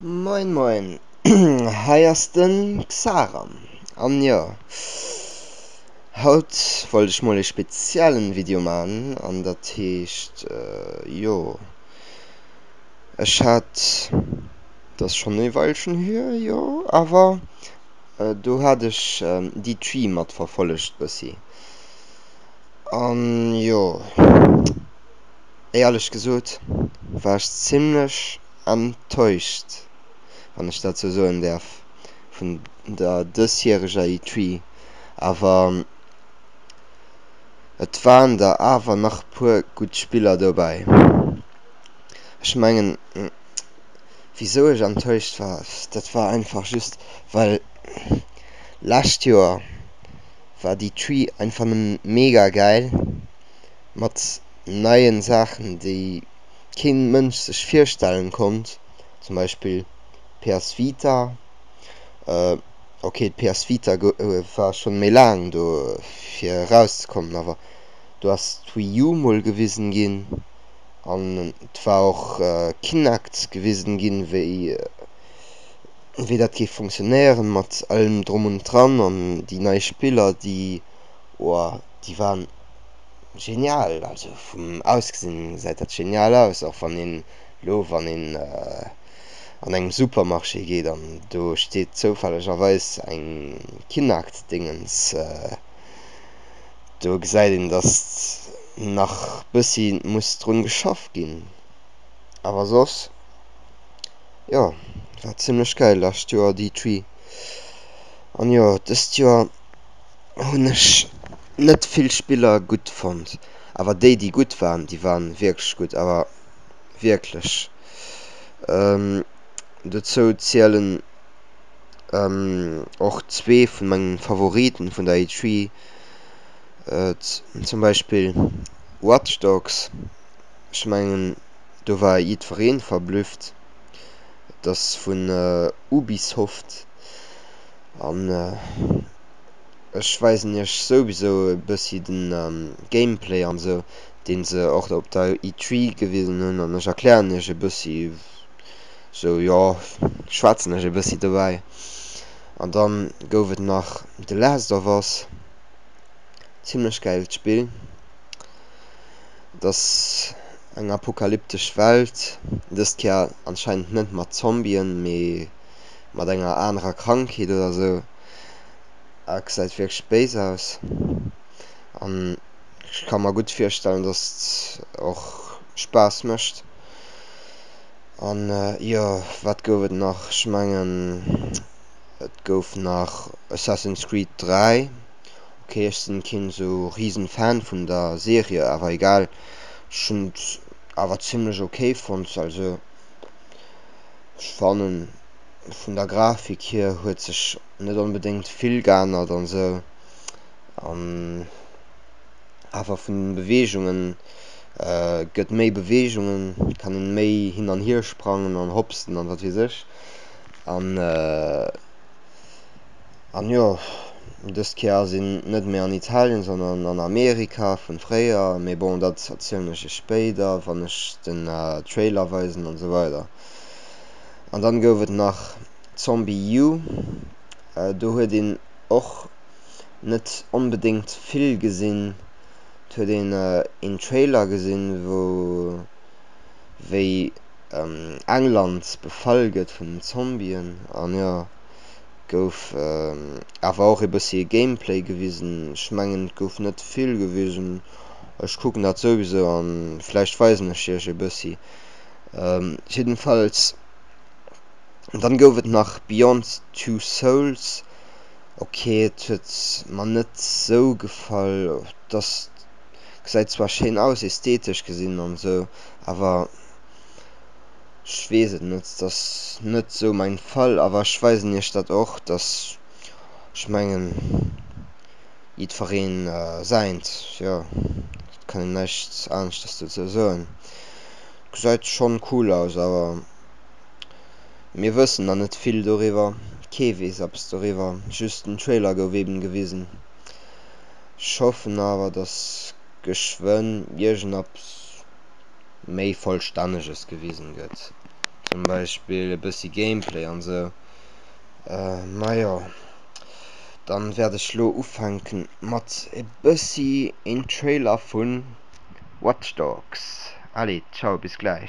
Moin moin, hei ass den Xaram, an jo haut wollt ech mol ee speziellen Video maan, an datt heescht jo ech haat, datt schon ee Weilchen hier jo, awer do haat ech déi Tree mat verfollegt bessi, an jo éierlech gesoot war ech zimlech enttäuscht, wann ech dat sou soen däerf, vun der dësjäreger E3. Awer et waren der awer nach puer gutt Spiller dobäi. Ech mengen, wisou ech enttäuscht war, dat war einfach just, well lescht Joer war d'E3 einfach nëmme mega gäil, mat neien Saachen, déi. keen Mënsch sech virstellen konnt, zum Beispill PS Vita, okay d'PS Vita war schon méi laang do fir eraus ze kommen, awer do ass d'Wii U mol gewisen ginn an et war och Kinect gewisen ginn wéi wéi dat géif funktionéieren mat allem drum und dran an déi nei Spiller déi oah déi waren Genial, also vum Ausgesinn gesäit dat genial aus, och wann een elo wann een an engem Supermarché geet an do steet zoufällegerweis eng Kinakt-Dingens, do gesäit een, datt nach bëssi muss drun geschafft ginn, awer soss jo, war zimmlech geil, lescht Joer Dee Tree an jo dëst Joer. Hunn ech net vill Spiller gutt fonnt, awer déi déi gutt waren, déi waren wierklech gutt, awer wierklech. Dozou zielen och zwee vun mengen Favoriten vun der E3, zum Beispill Watch Dogs, ech mengen do war jiddwereen verblüfft, et ass vun Ubisoft an. ech weisen iech souwisou e bëssi den Gameplay an esou, deen se och op der E3 gewisen hunn, an ech erklären iech e bëssi esou, jo schwätzen ech e bëssi dobäi. An dann gouf et nach The Last of Us, zimlech gäilt Spill, et ass eng apokalyptesch Welt, dëst Kéier anscheinend net mat Zombien, mee mat enger anerer Krankheet oder esou. a gesäit wierklech béis aus. An ech ka mer gutt virstellen, dass et och Spaass mécht. An jo, wat gouf et nach? Ech mengen, et gouf nach Assassin's Creed 3. Ok, ech sinn keen esou riesen Fan vun der Serie, awer egal. Ech hunn et awer zimmlech ok fonnt. Also ech fannen. vun der Grafik hier huet sech net onbedéngt vill geännert an esou. An awer vun den Beweegungen, gëtt méi Beweegungen, kann een méi hin an hier sprangen an hopsen an wat weess ech. An an jo, dëst Kéier ass een net méi an Italien, sondern an Amerika vun fréier. Mee bon, dat erzielen ech iech spéider wann ech den Trailer weisen an esou weider. An dann gouf et nach ZombiU, do huet een och net onbedéngt vill gesinn. Et huet een een Trailer gesinn, wou wéi England befall gëtt vun den Zombien an jo gouf awer och ee bëssi ee Gameplay gewisen. Ech mengen et gouf net vill gewisen, ech kucken dat souwisou an vläicht weisen ech iech ee bëssi. Ähm jiddenfalls, dann gouf et nach Beyond Two Souls, ok et huet mer net sou gefall, dass gesäit zwar schéin aus esthetesch gesinn an sou, awer ech weess et net, et ass net sou mein Fall. Awer ech weisen iech dat och, dass ech mengen jidfereen säint, jo et kann een näischt aneschters dozou soen. Gesait schon cool aus awer mir wëssen na net vill doriwwer, kee wees eppes doriwwer, just den Trailer gouf eben gewisen. Ech hoffen awer dass geschwënn iergendeppes méi vollstänneges gewisen gëtt, zum Beispill e bëssi Gameplay an sou. Majo dann wärt ech lo ufänken mat e bëssi een Trailer vun. Watch Dogs. Allez, ciao bis gläich.